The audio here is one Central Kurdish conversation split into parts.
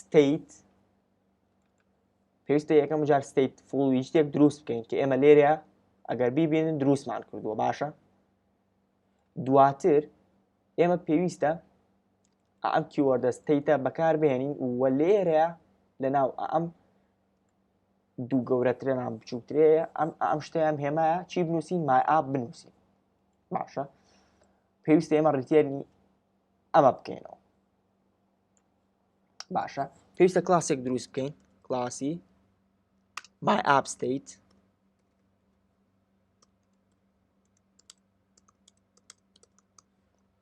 ستیت پێویستە یەکەم جار ستیت فڵ ویشتێک دروست بکەین کە ئێمە لێرە ئەگەر بیبینن دروستمان کردووە باشە دواتر ئێمە پێویستە ئەم کیوەردە ستیتە بەکاربهێنین و لێرە لە ناو ئەم دوو گەورەترە نام بچووکترەیە ئەم ئەم شتیان هێمایە چی بنووسین مای ئاپ بنووسین باشە پێویستە ئێمە ڕیتێرنی ئەمە بکەینەوە باشە پێویستە کلاسێک دروست بکەین کلاسی my app state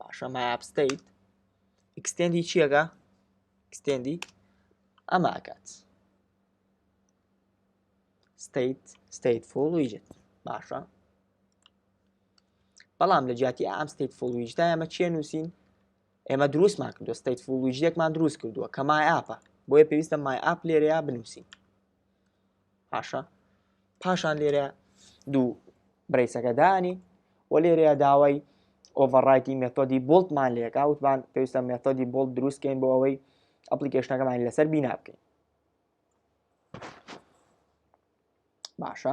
باشە my app state ئکسستێندی چیەکە ئکسستێندی ئەمە ئەکات state stateful widget باشە بەڵام لە جیاتی ئەم ستیت فول ویجدا ئەمە چیە نووسین ئێمە دروستمان کردو ستیت فول ویجێکمان دروست کردووە کە مای ئاپە بۆیە پێویستە مای ئاپ لێرەیە بنووسین پاشە پاشان لێرە دوو برەیسەکە دانی و لێرەیە داوای ئۆڤەڕایتی مێتۆدی بولتمان لێکا وتمان پێویستە مێتۆدی بولت دروستکەین بۆ ئەوەی ئەپلیکیشنەکەمان لەسەر بینا بکەین باشە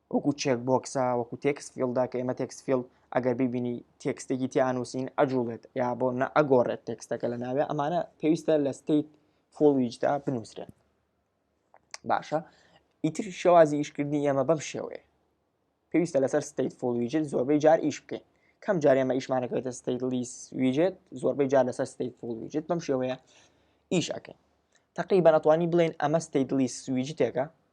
وەکو چێک بۆکسە وەکو تێکس فیلدا کە ئێمە تێکس فیل ئەگەر ببینی تێکستێکی تیانووسین ئەجوڵێت یا بۆ نە ئەگۆڕێت تێکستەکە لە ناوێ ئەمانە پێویستە لە ستیت فۆڵویجدا بنووسرێت باشە ئیتر شێوازی ئیشکردنی ئێمە بەم شێوەیە پێویستە لەسەر ستیت فۆڵویجت زۆربەی جار ئیش بکەین کەم جار ئێمە ئیشمانەکەێتە ستیت لیس ویجێت زۆربەی جار لەسەر ستیت فۆڵویجت بەم شێوەیە ئیش ئەەکەین تقی بەنەتوانی بڵێن ئەمە ستیت لیس ویجتێکە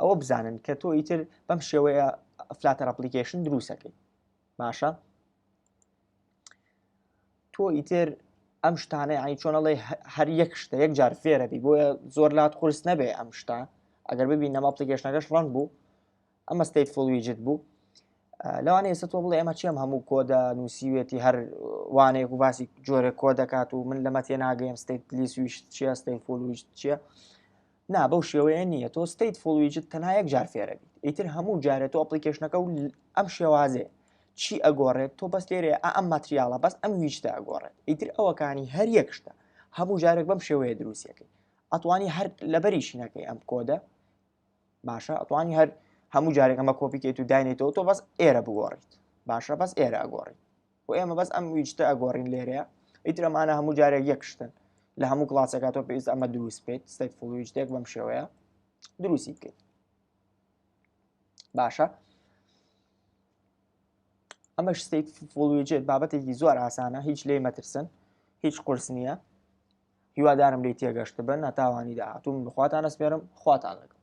ئەوە بزانن کە تۆ ئیتر بەم شێوەیە فلاتەر ئەپلیکیشن دروستەکەی باشە تۆ ئیتر ئەم شتانەی ئای چۆنەڵی هەر یەک شتە یەک جار فێرەبی بۆیە زۆر لات قرس نەبێ ئەم شتا ئەگەر ببین نەما ئەپلیکیشنەکەش ڕەنگ بوو ئەمە ستیت فول ویجت بوو لەوانەیە ئێستا تۆ بڵێ ئەمە چێم هەموو کۆدا نووسیوێتی هەر وانەیەک و باسی جۆرە کۆ دەکات و من لەمە تێ ناگەیم ستیت لیس ویشت چیە ستیت فول ویشت چیە نا بەو شێوەیە نییە تۆ ستیت فول ویجت تەنها یەک جار فێرەبی ئیتر هەموو جارێت و ئەپلیکیشنەکە و ئەم شێوازێ چی ئەگۆڕێت تۆ بەس لێرێ ئەم ماتریاڵە بەس ئەم ویشتە ئەگۆڕێت ئیتر ئەوەکانی هەر یەک شتە هەموو جارێک بەم شێوەیە دروستەکەی ئەتوانی هەر لەبەریشینەکەی ئەم کۆدە باشە ئەتوانی هەر هەموو جارێک ئەمە کۆپی کەیت و داینێتەوە تۆ بەس ئێرە بگۆڕیت باشە بەس ئێرە ئەگۆڕیت و ئێمە بەس ئەم ویجتە ئەگۆڕین لێرەیە ئیترەمانە هەموو جارێک یەکشتن لە هەموو کلاسەکە تۆ پێویست ئەمە دروست بێت ستێک فڵویجتێک بەم شێوەیە دروستی بکەیت باشە ئەمە شتێک فڵویجێت بابەتێکی زۆر ئاسانە هیچ لێ مەترسن هیچ قرس نییە هیوادارم لی تێگەشت بن هەتاوانی داهاتوو من بخواتان ئەسپێرم خواتان لەگەڵ